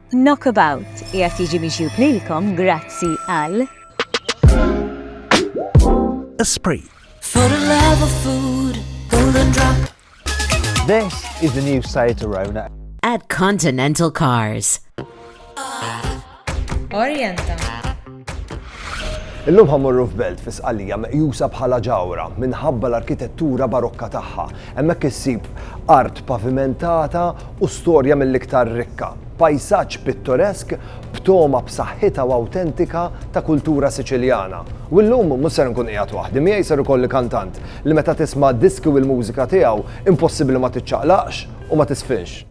Knockabout qiegħed jiġi miġjub lilkom grazzi għal. Esprit. For the love of food, golden drop. This is the new Seat Arona. At Continental Cars. Orienta. Illum ħa mmorru f'belt fi Sqallija meqjusa bħala ġawhra minħabba l-arkitettura barokka tagħha. Hemmhekk issib art pavimentata u storja mill-iktar rikka. Pajsaġġ pittoresk b'togħma b'saħħitha u awtentika ta' kultura Siċiljana. U llum mhux ser nkun qiegħed waħdi, miegħi ser ikolli kantant li meta tisma' diski u l-mużika tiegħu impossibbli ma tiċċaqlaqx u ma tisfinx.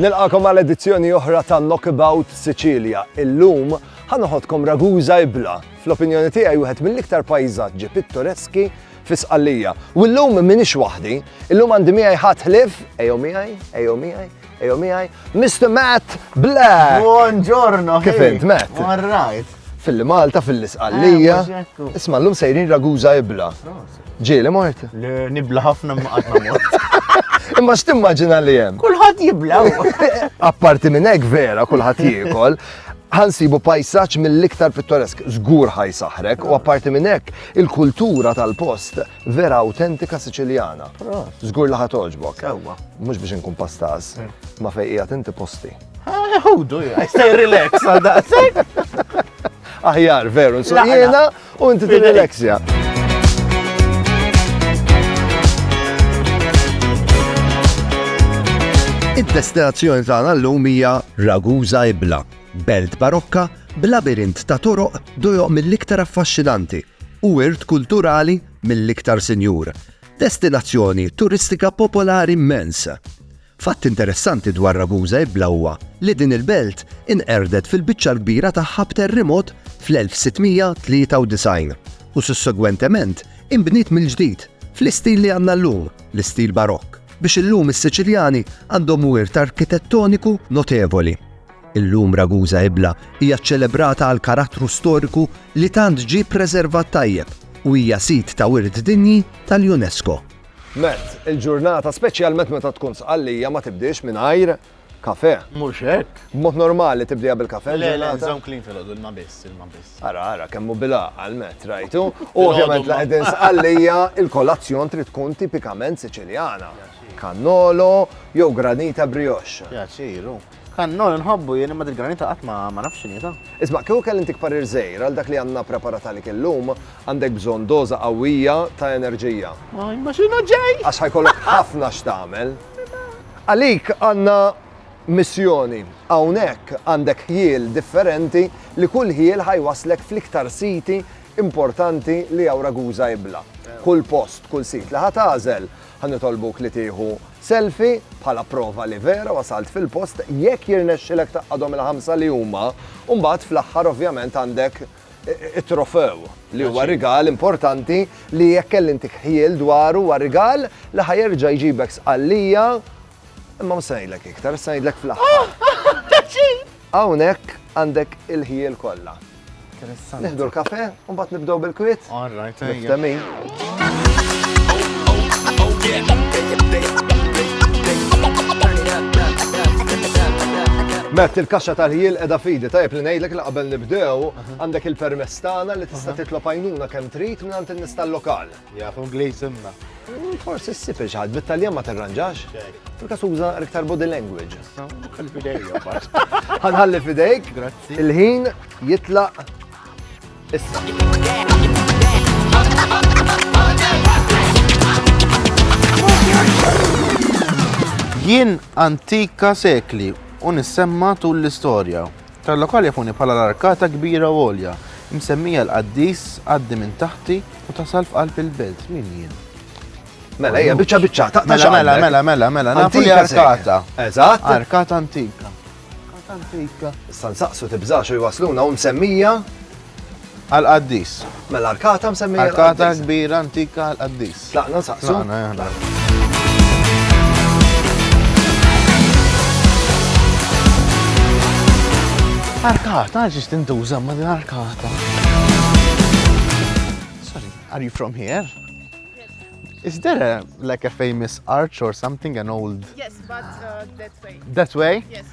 Nilqakom għal edizzjoni oħra ta' Knockabout Sicilia. Illum ħanoħodkom Ragusa Ibla, fl-opinjoni tiegħi wieħed mill-iktar pajżaġġi pittoreski fi Sqallija. U llum minix waħdi, illum għandi miegħi ħadd ħlief, ejjew miegħi, ejjew miegħi, Ejo miħaj, Mr. Matt Black! Buongiorno! Kif int, Matt? All right. Fil-Malta, fil-Isqallija. Eh, Isma l-lum sejrin raguza ibla. Ġieli mort? Nibla ħafna maqatna mort. Imma x'timmaġina li hemm? Kulħadd jibla. Apparti minn hekk vera kulħadd jiekol, ħansibu pajsaċ mill-iktar pittoresk, żgur ħaj saħrek, u apparti minn hekk il-kultura tal-post vera autentika Siċiljana. Żgur li ħatogħġbok. Ewwa. Mhux biex inkun pastas, ma fejn qiegħed inti posti. Ħudu, I stay relax għal daqsek. Aħjar, veru, nsaqjena u inti tirrelaxja. Id-destinazzjoni tagħna llum hija Ragusa Ibla, belt barokka b'labirint ta' toroq dojoq mill-iktar affaxxinanti u wirt kulturali mill-iktar sinjur, destinazzjoni turistika popolari mmens. Fatt interessanti dwar Ragusa Ibla huwa li din il-belt inqerdet fil-biċċa l-kbira tagħha b'terrimot fl-1693 u sussegwentement inbniet mill-ġdid fl-istil li għandna llum, l-istil Barokk, biex illum is-Siċiljani għandhom wirt arkitettoniku notevoli. Illum Ragusa Ibla hija ċċelebrata għall-karattru storiku li tant ġie ppreservat tajjeb u hija Sit ta' Wirt Dinji tal-UNESCO. Matt, il-ġurnata, speċjalment meta tkun Sqallija, ma tibdiex mingħajr kafè. Mhux hekk? B'mod normali tibdieha bil-kafè l-ġurnata? Le, le, nżomm clean filgħodu, ilma biss, ilma biss. Ara, ara, kemm hu bil-għaqal Matt, rajtu? U ovvjament la qegħdin Sqallija, il-kolazzjon trid tkun tipikament Siċiljana. Cannolo jew granita brioche. Pjaċir, hu. Kannol inħobbu jien imma dil-granita qatt ma ma nafx x'inhi ta'. Isma', kieku kelli ntik parir żgħir għal dak li għandna ppreparat għalik illum, għandek bżonn doża qawwija ta' enerġija. Ma imma x'inhu ġej! Għax ħa jkollok ħafna x'tagħmel. Għalik għandna missjoni. Hawnhekk għandek ħjiel differenti li kull ħjiel ħa jwasslek fl-iktar siti importanti li hawn Ragusa jibla'. Kull post, kull sit li ħa tagħżel Ħa nitolbuk li tieħu selfie bħala prova li vera wasalt fil-post jekk jirnexxilek taqqadhom il-ħamsa li huma u mbagħad fl-aħħar ovvjament għandek it-trofew li huwa rigal importanti li jekk kelli intik ħjiel dwaru huwa rigal li ħa jerġa' jġibek sqallija imma mhux se ngħidlek iktar, se ngħidlek fl-aħħar. Hawnhekk għandek il-ħjiel kollha. Neħdu l-kafe, u mbagħad nibdew bil-kwiet. All right, Mert il-kaxxa tal-ħiel edha fidi, tajb li ngħidlek li qabel nibdew għandek il-permess tagħna li tista' titlob għajnuna kemm trid mingħand in-nies tal-lokal. Jaf Ingliż imma. Forsi ssib il xaħad, bit-Taljan ma terranġax. Fil-kas uża iktar body language. Ħalli fidejk, Ħanħalli fidejk. Grazzi. Il-ħin jitlaq issa. Jien antika sekli u nissemma tul l-istorja. Tal-lokal jafuni bħala l-arkata kbira u għolja, imsemmija l-qaddis għaddi minn taħti u tasal f'qalb il-belt. Min jien? Mela, ejja, biċċa biċċa, taqta' Mela, mela, x'għandek? mela, mela, mela, nafu li Antika sejħa. arkata. Eżatt. Arkata antika. Arkata antika. Issa nsaqsu tibżax u jwasluna u msemmija Għall-qaddis. Mela arkata msemmija. Arkata kbira antika għall-qaddis. Tlaqna nsaqsu. Arkata, ġiġ tintuża ma din arkata. Sorry, are you from here? Is there a, like a famous arch or something, an old... Yes, but uh, that way. That way? Yes.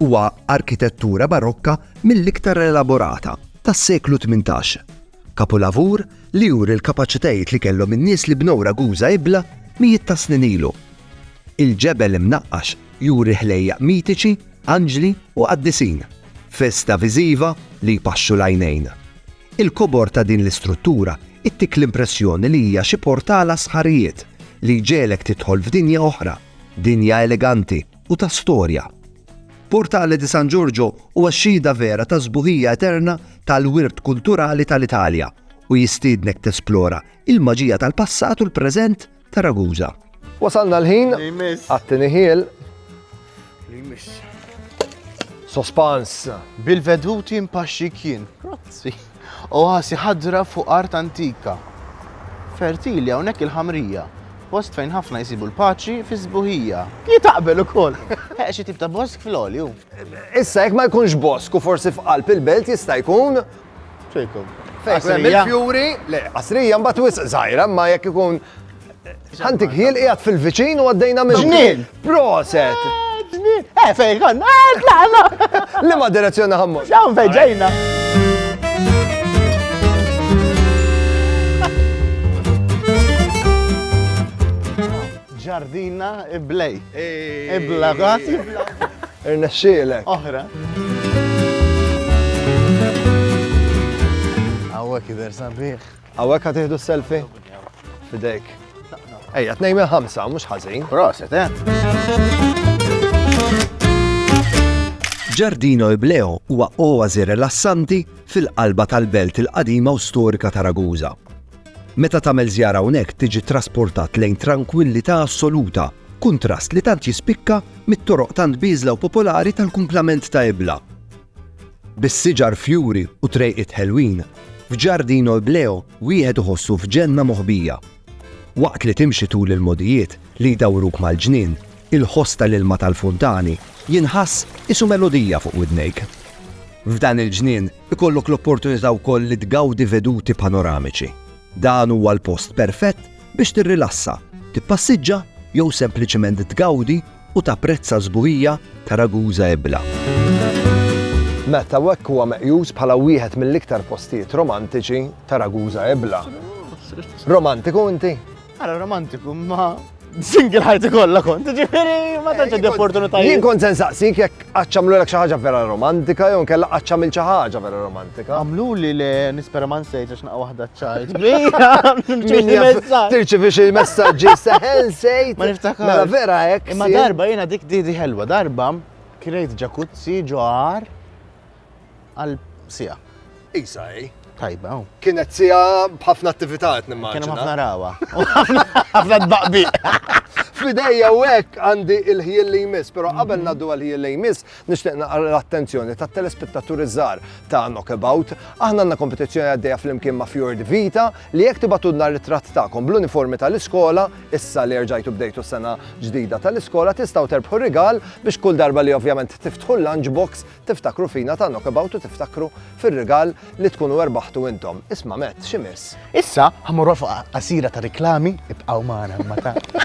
Huwa arkitettura barokka mill-iktar elaborata tas-seklu tmintax. Kapulavur li juri l-kapaċitajiet li kellhom in-nies li bnew Ragusa Ibla mijiet ta' snin ilu. Il-ġebel imnaqqax juri ħlejjaq mitiċi, anġli u qaddisin, festa viżiva li jpaxxu l-għajnejn. Il-kobor ta' din l-istruttura ittik l-impressjoni li hija xi portal għas-sħarijiet li jġegħlek tidħol f'dinja oħra, dinja eleganti, u ta' storja. Portale di San Giorgio huwa xhieda vera tas-sbuħija eterna tal-wirt kulturali tal-Italja u jistiednek tesplora il-maġija tal-passat u l-preżent ta' Ragusa. Wasalna l-ħin għat-tieni ħiel. Sospans. Bil-veduti mpaxxi kien. Grazzi. Oasi ħadra fuq art antika, fertili hawnhekk il-Ħamrija, post fejn ħafna jsibu l-paċi fis-sbuħija. Jien aqbel ukoll! Heq xi tip ta' bosk fl-għoli hu. Issa jekk ma jkunx bosk u forsi f'qalb il-belt jista' jkun. Fejn ikun hemm il-fjuri, le, qasrija mbagħad wisq żgħira, imma jekk ikun Ħantik ħiel qiegħed fil-viċin u għaddejna minn. Ġnien! Proset! Ġnien! Eh, fejn konna! Eh, tlaqna! Li ma direzzjoni ħammur. X'hawn fejn ġejna. Ġardina iblej. Ibla għat. Irnexxielek. Oħra. Għawek jider sabiħ. Għawek għat iħdu selfie? Fidejk. Ejja, t-nej minn ħamsa, mux ħazin. Proset, eh? Ġardino Ibleo huwa oazi rilassanti fil-qalba tal-belt il-qadima u storika ta' Raguza. Meta tagħmel żjara hawnhekk tiġi trasportat lejn tranquillità assoluta, kuntrast li tant jispikka mit-toroq tant biżla u popolari tal-kumplament ta' Ibla. bis-siġar fjuri u trejqiet ħelwin, f'Giardino Ibleo wieħed iħossu f'ġenna moħbija. Waqt li timxi tul il-mogħdijiet li jdawruk mal-ġnien, il-ħoss tal-ilma tal-funtani jinħass qisu melodija fuq widnejk. F'dan il-ġnien ikollok l-opportunità wkoll li tgawdi veduti panoramiċi. Dan huwa l-post perfett biex tirrilassa, tippassiġġa jew sempliċement tgawdi u tapprezza s-sbuħija ta' Ragusa Ebla. Met hawnhekk huwa meqjus bħala wieħed mill-iktar postijiet romantiċi ta' Ragusa Ebla. Romantiku inti? Ara romantiku ma single ħajti kollha kont, ġifieri ma tantx għandi opportunitajiet. Jien kont se nsaqsik jekk Qaċċ għamlulek xi ħaġa vera romantika jew nkella qaċċ għamil xi ħaġa vera romantika. Għamluli le nispera ma nsejt għax naqgħu waħda ċajt. Tirċivi xi messaġġi seħel sejt. Ma niftakar. Mela vera hekk. Imma darba jiena dik didi ħelwa darba kirejt ġakuzzi ġoħar għal siegħa. Isa hi. Tajba. Kienet siegħa b'ħafna attività qed nimmaġina. Kien ħafna rawa. Ħafna tbaqbi. Fidejja u hekk għandi il-ħjel li jmiss, però qabel mhm. naddu għal-ħjel li jmiss, nixtieq naqra l-attenzjoni ta' telespettaturi żgħar ta' Knockabout. Aħna għandna kompetizzjoni għaddejja flimkien ma' Fjord Vita li jekk tibatudna ritratt tagħkom bl-uniformi tal-iskola, issa li rġajtu bdejtu sena ġdida tal-iskola tistgħu terbħu rigal biex kull darba li ovvjament tiftħu l-lunchbox Tiftakru fina ta' Knockabout u tiftakru fir-rigal li tkunu erbaħtu intom. Isma' Matt, x'imiss? Issa ħamorru fuq qasira ta' riklami ibqgħu magħna imma ta'.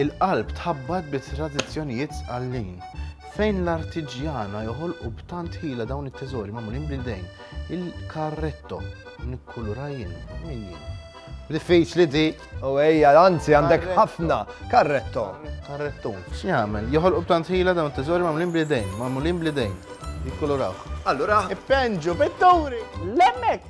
Il-qalb tħabbat bi tradizzjonijiet sqallin. Fejn l-artiġjana joħolqu b'tant ħila dawn it-teżori magħmulin bl-idejn. Il-karretto nikkulura jien min jien. Diffiċli di, u ejja, anzi għandek ħafna karretto. Karretto. X'jagħmel? Joħolqu b'tant ħila dawn it-teżori magħmulin bl-idejn, magħmulin bl-idejn. Jikkuluraw. Allura, Ippenġu, pitturi! Lemmek!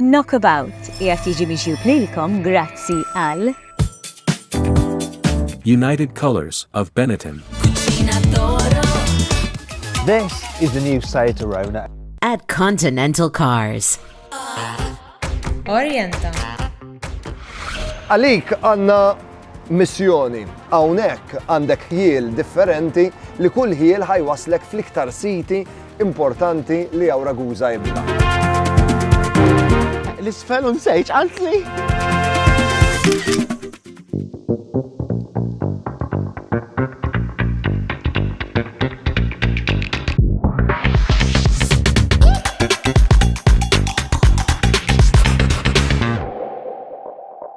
Knockabout qiegħed jiġi miġjub lilkom grazzi għal. United Colours of Benetton. This is the new Seat Arona. At Continental Cars. Orienta. Għalik għanna missjoni. Hawnhekk għandek ħjiel differenti li kull ħjiel ħa jwasslek fl-iktar siti importanti li hawn Ragusa ibna. L-isfel u nsejġ qaltli.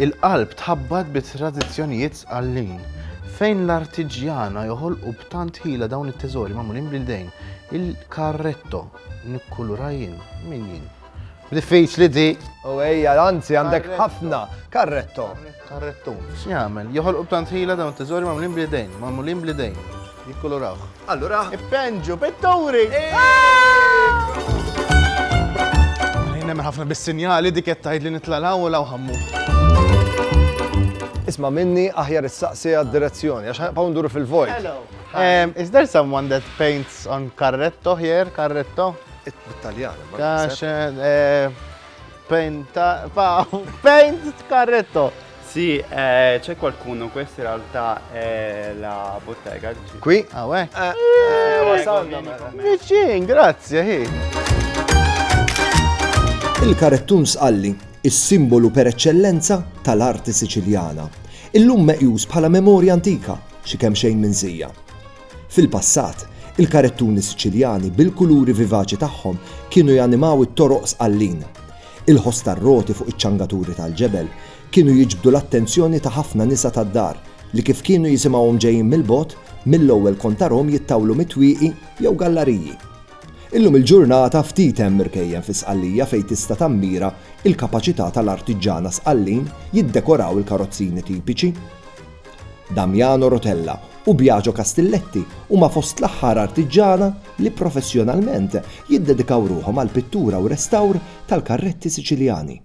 Il-qalb tħabbat bi tradizzjonijiet sqallin. Fejn l-artiġjana joħolqu b'tant ħila dawn it-teżori magħmulin bl-idejn, il-carretto, nikkulura jien, min jien? Diffiċli di! U ejja, anzi għandek ħafna, carretto. Carretto. X'jagħmel? Joħolqu b'tant ħila dawn it-teżori magħmulin bl-idejn, magħmulin bl-idejn. Jikkulurawh. Allura. Ippenġu pitturi! Nemmen ħafna bis-sinjali dik qed tgħid li nitlalaw u law ħammu. Isma' minni aħjar issaqsi għad-direzzjoni għax ħanqgħu nduru fil-vojt. Hello. Um, is there someone that paints on carretto here, carretto? Bit-Taljan. Għax eh, paint, paint carretto. Sì, eh, c'è qualcuno, questa in realtà è la bottega. Qui? Ah, uè. Eh, eh, wasalna mela. Vicin, grazie, hi. Il-karettun sqalli, is-simbolu per eċċellenza tal-arti Siċiljana, illum meqjus bħala memorja antika xi kemm xejn minn żija. Fil-passat, il-karettuni Siċiljani bil-kuluri vivaċi tagħhom kienu janimaw it-toroq sqallin Il-ħoss tar-roti fuq iċ-ċangaturi tal-ġebel kienu jiġbdu l-attenzjoni ta' ħafna nisa tad-dar li kif kienu jisimgħuhom ġejjin mill-bogħod, mill-ewwel kont tarahom jittawlu mit-twieqi jew gallariji. Illum il-ġurnata ftit hemm irkejjen fi Sqallija fejn tista' tammira l-kapaċità tal-artiġġana Sqallin jiddekoraw il-karozzini tipiċi. Damiano Rotella u Biagio Castilletti huma fost l-aħħar artiġġana li professjonalment jiddedikaw ruħhom għall-pittura u restawr tal-karretti Siċiljani.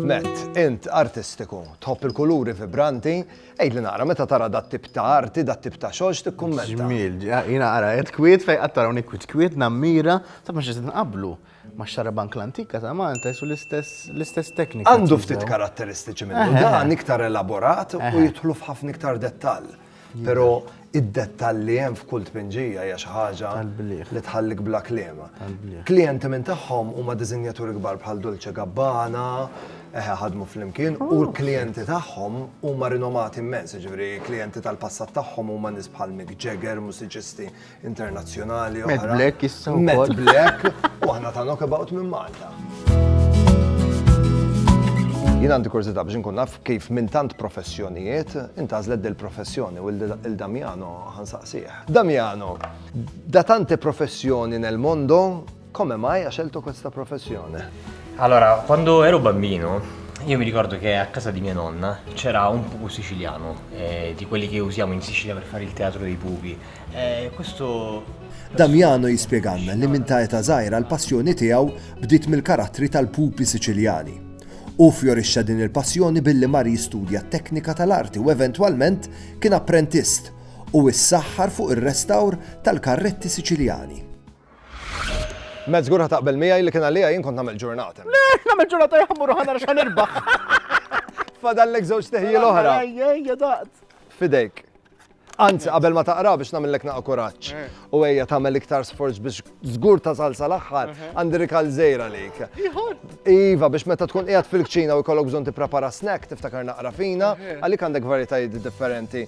Nett, int artistiku, tħobb il-kuluri vibranti, għidli naqra meta tara dat tip ta' arti, dat tip ta' xogħol x'tikkummenta. Ġmiel, jiena ara qed kwiet fejn qatt tarawni kwiet kwiet nammira ta' ma xi nqablu. ma' xarabank l-antika ta' Malta qisu l-istess teknika. Għandu ftit karatteristiċi minnu dan, iktar elaborat u jidħlu f'ħafna iktar dettall. Pero id-dettall li hemm f'kull tpinġija hija xi ħaġa li tħallik bla kliem. Klijenti minn tagħhom huma diżinjaturi kbar bħal Dolce Gabbana, eħe ħadmu flimkien, u l-klijenti tagħhom huma rinomati immens, jiġifieri klijenti tal-passat tagħhom huma nies bħal Mick Jagger, mużiċisti internazzjonali oħra. Matt Black issa wkoll. Matt Black u aħna ta' knockabout minn Malta. Jien għandi kurżità biex nkun naf kif minn tant professjonijiet intażlet del professjoni u l-Damiano ħansaqsih. Damiano, da tante professjoni nel mondo Come mai ha scelto questa professione? Allora, quando ero bambino, io mi ricordo che a casa di mia nonna c'era un pupo siciliano, eh, di quelli che usiamo in Sicilia per fare il teatro dei pupi. Eh, questo Damiano jispjeganna li minn ta' eta żgħira l-passjoni tiegħu bdiet mill-karattri tal-pupi Siċiljani. U fjorixxa din il-passjoni billi mar jistudja teknika tal-arti u eventwalment kien apprentist u issaħħar fuq ir-restawr tal-karretti Siċiljani. Matt, żgur ħa taqbel miegħi li kien għalija jien kont nagħmel ġurnata. Le, nagħmel ġurnata jħammur mmur ħana x'ħan irbaħ. Fadallek żewġ teħji l-oħra. Ejja daqt. Fidejk. Anzi, qabel ma taqra biex namillek naqa kuraċ. Eh. U ejja tagħmel iktar sforz biex żgur ta' salsa l-aħħar eh. għandi rikal żejra lejk. Iva, biex meta tkun qiegħed fil-kċina u jkollok bżonn tipprepara snack tiftakar naqra fina, eh. għalik għandek varjetajiet differenti.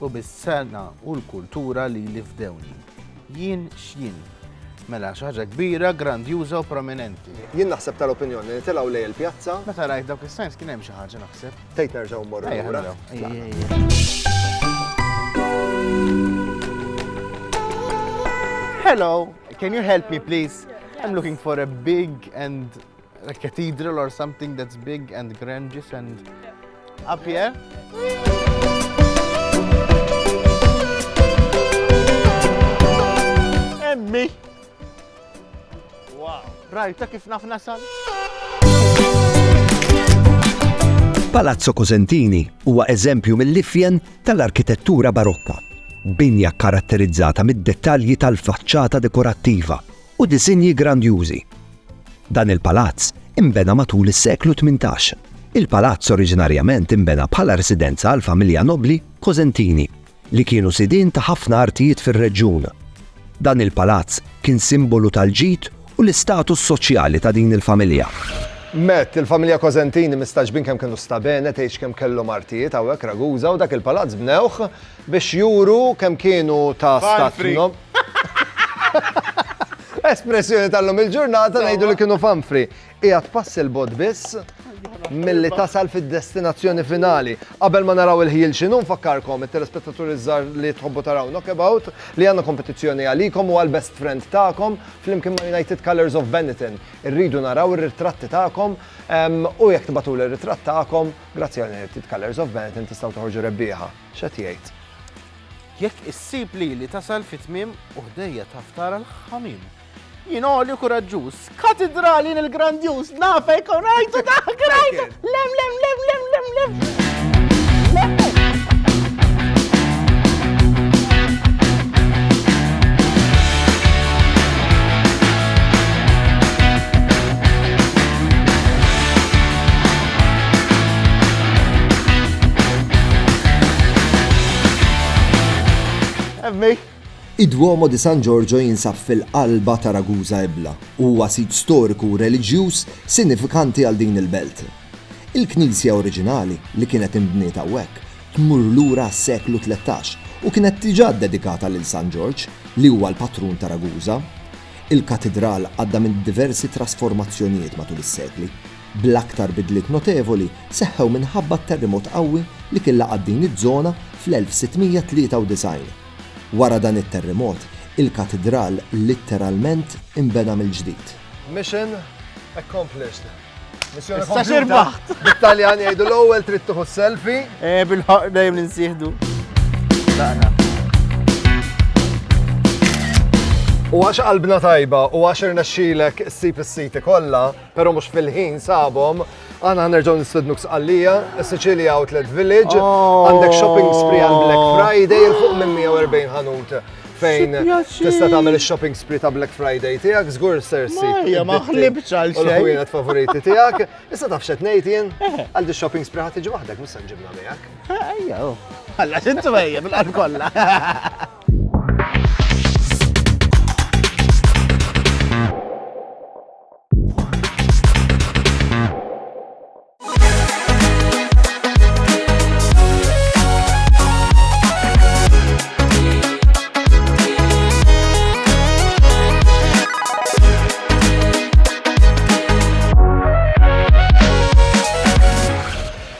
U bis-sengħa u l-kultura lili fdewni. Jien x'jien. Mela, xi ħaġa kbira, grandjuża u prominenti. Jien naħseb tal-opinjoni li telgħu lejn il-pjazza. Meta rajt dawk is-signs kien hemm xi ħaġa naħseb. Tgħid nerġgħu mmorru lura. Ejja, ejja, ejja. Hello, can you help me please? I'm looking for a big and A cathedral or something that's big and grandiose and up here. Emmi! Wow! Rajta kif naf nasal? Palazzo Cosentini huwa eżempju mill-ifjen tal-arkitettura barokka, binja karatterizzata mid-dettalji tal-faċċata dekorattiva u disinji grandjużi Dan il-palazz inbena matul is-seklu tmintax. Il-palazz oriġinarjament inbena bħala residenza għall-familja nobbli Cosentini, li kienu sidien ta' ħafna artijiet fir-reġjun. Dan il-palazz kien simbolu tal-ġid u l-istatus soċjali ta' din il-familja. Met, il-familja Cosentini mistagħġbin kemm kienu sta bene tgħix kemm kellhom artijiet hawnhekk Ragusa u dak il-palazz bnewh Biex juru kemm kienu ta' stat nob. Espressjoni tal-lum il-ġurnata ngħidu li kienu fanfri. Qiegħed pass il-bot biss milli tasal fid-destinazzjoni finali. Qabel ma naraw il-ħjiel x'inhu nfakkarkom it-telespettaturi żgħar li tħobbu taraw Knockabout li għandna kompetizzjoni għalikom u għall-best friend tagħkom flimkien ma' United Colours of Benetton. Irridu naraw ir-ritratti tagħkom u jekk tibatuli r-ritratt tagħkom, grazzi għal United Colours of Benetton tistgħu toħorġu rebbieħa. X'qed jgħid? Jekk issib lili tasal fit-tmiem u ħdejja taf tara l-ħamim. Jien għoli u kuraġġuż, katidrali jien il-grandjuż, nafek u rajtu dak rajtu! Lem, lem, lem, lem, lem, lem! Emmej! Id-Duomo di San Giorgio jinsab fil-qalba ta' Ragusa Ibla u huwa sit storiku u reliġjuż sinifikanti għal din il-belt. Il-knisja oriġinali li kienet inbniet hawnhekk tmur lura għas-seklu tlettax u kienet diġà ddedikata lil San Ġorġ li huwa l-patrun ta' Ragusa. Il-katidral għadda minn diversi trasformazzjonijiet matul is-sekli. bl-aktar bidliet notevoli seħħew minħabba t-terrimot qawwi li kien laqat din iż-żona fl-1693. Wara dan it-terrimot, il-katidral litteralment inbena mill-ġdid. Mission accomplished. Missjoni kompluta. Bit-Taljan jgħidu l-ewwel trid tieħu selfie. Eh, bil-ħaq dejjem ninsieħdu. U għax qalbna tajba u għax irnexxilek issib is-siti kollha, pero mux fil-ħin sabom, għana għanerġaw nistednuk sqallija, Sicilia Outlet Village, oh. għandek shopping spree għal Black Friday, il-fuq minn 140 ħanut fejn tista' tagħmel ix-shopping spree ta' Black Friday tiegħek, żgur sersi. Ejja ma ħlibx għal xejn. L-ħwienet favoriti tiegħek. Issa taf xed ngħid jien, eh. għal shopping spree ħadd tiġi waħdek mhux se nġibna miegħek. Eh, ejja, oh. alla xintu ejja bil-qalb kollha.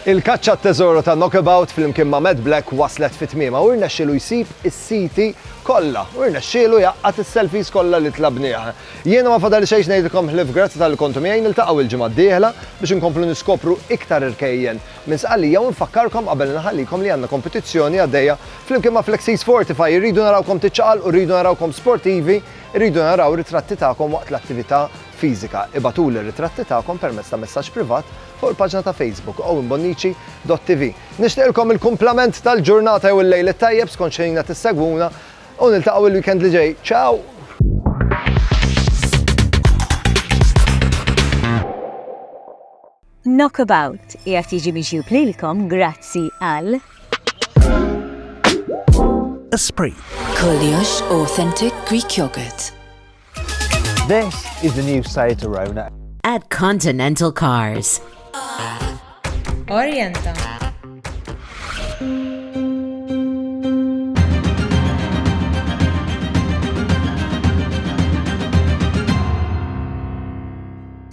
Il-kaċċa t-teżoru ta' Knockabout fl-imkien ma' Mad Black waslet fit tmiema u rnexxielu jsib is-siti kollha u rnexxielu jaqqat is-selfies kollha li tlabnieh. Jiena ma fadal xejn x'ngħidilkom ħlief grazzi talli kontu miegħi, niltaqgħu il-ġimgħa d-dieħla biex inkomplu niskopru iktar irkejjen minn Sqallija u nfakkarkom qabel inħallikom li għandna kompetizzjoni għaddejja flimkien ma' Flexies Fortify, irridu narawkom tiċċaqalqu, irridu narawkom sportivi, irridu naraw ritratti tagħkom waqt l-attività fiżika. Ibagħtuli r-ritratti tagħkom permezz ta' messaġġ privat fuq il-paġna ta' Facebook owenbonnici.tv. Nixtieqilkom il-kumplament tal-ġurnata jew il-lejl it-tajjeb skont x'ħin qed issegwuna. U niltaqgħu il-weekend li ġej. Ciao! Knockabout qiegħed jiġi miġjub lilkom grazzi għal Esprit. Kollox Authentic Greek Yogurt. This is the new Seat Arona. At Continental Cars. Orienta.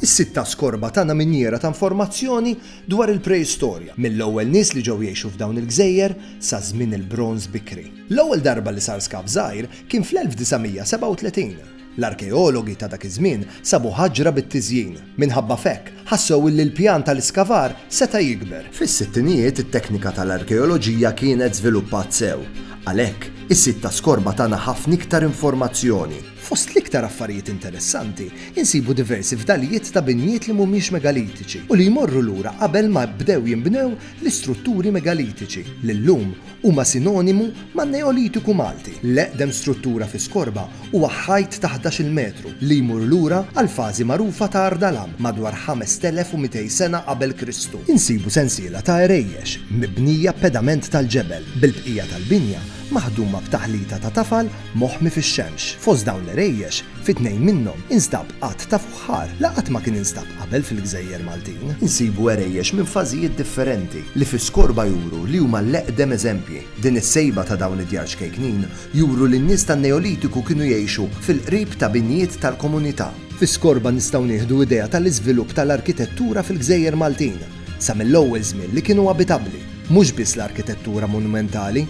Is-sitta skorba tagħna minjera ta' informazzjoni dwar il-preistorja, mill-ewwel nies li ġew jgħixu f'dawn il-gżejjer sa żmien il-bronż bikri. L-ewwel darba li sar skav żgħir kien fl-1937. L-arkeologi ta' dak iż-żmien sabu ħaġra bit-tiżjin. Minħabba f'hekk, ħassew illi l-pjan tal-iskavar seta' jikber. Fis-sittinijiet it-teknika tal-arkeoloġija kienet żviluppat sew. Għalhekk, is-sit ta' Skorba tana ħafna iktar informazzjoni. Fost l-iktar affarijiet interessanti, insibu diversi fdalijiet ta' binjiet li mhumiex megalitiċi u li jmorru lura qabel ma bdew jinbnew l-istrutturi megalitiċi li llum huma sinonimu man-Neolitiku Malti. L-eqdem struttura fi skorba huwa ħajt ta' ħdax-il metru li jmur lura għall-fażi magħrufa ta' Ardalan madwar 5200 sena qabel Kristu. Insibu sensiela ta' għerejjex mibnija b'pedament tal-ġebel, bil-bqija tal-binja maħduma b'taħlita ta' tafal moħmi fix-xemx. Fost dawn l-għerejjex, fi tnejn minnhom instab għadd ta' Baħar, li qatt ma kien instab qabel fil-gżejjer Maltin, insibu għerejjex minn fażijiet differenti li fi skorba juru li huma l-eqdem eżempji. Din is-sejba ta' dawn id-djar ċkejknin juru li n-nies tan-Neolitiku kienu jgħixu fil-qrib ta' binjiet tal-komunità. Fi skorba nistgħu nieħdu idea tal-iżvilupp tal-arkitettura fil-gżejjer Maltin sa mill-ewwel żmien li kienu abitabbli, mhux biss l-arkitettura monumentali,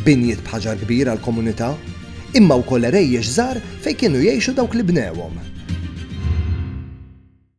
binjiet b'ħaġar kbir għall-komunità, imma wkoll għerejjex żgħar fejn kienu jgħixu dawk li bnewhom.